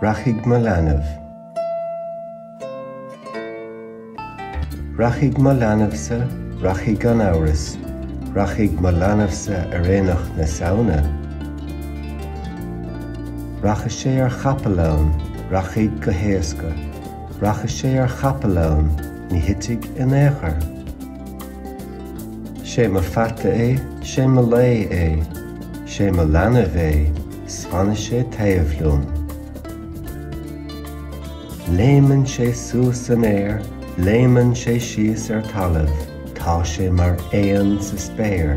Rachaidh mo leanbh. Rachaidh mo leanbhsa, rachaidh gan amhras, rachaidh mo leanbhsa ar aonach na Samhna. Rachaidh sé ar chapall ann, rachaidh go héasca, rachaidh sé ar chapall ann, ní thitfidh in aon chor. 'Sé mo pheata é, 'sé mo lao é, 'sé mo leanbh é 's fanfaidh sé taobh liom. Léimeann sé suas san aer, léimeann sé síos ar talamh, tá sé mar éan sa spéir,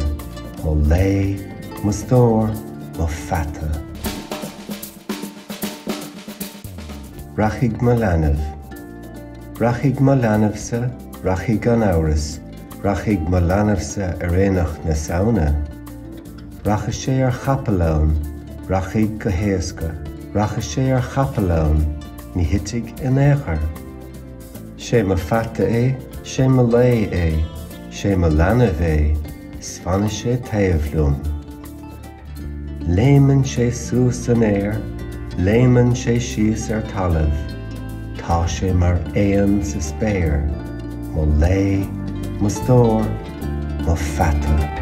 mo lao, mo stór, mo pheata. Rachaidh mo leanbh. Rachaidh mo leanbhsa, rachaidh gan amhras, rachaidh mo leanbhsa ar aonach na Samhna. Rachaidh sé ar chapall ann, rachaidh go héasca, rachaidh sé ar chapall ann, ní thitfidh in aon chor. 'Sé mo pheata é, 'sé mo lao é, 'sé mo leanbh é, 's fanfaidh sé taobh liom. Léimeann sé suas san aer, léimeann sé síos ar talamh, tá sé mar éan sa spéir, mo lao, mo stór, mo pheata.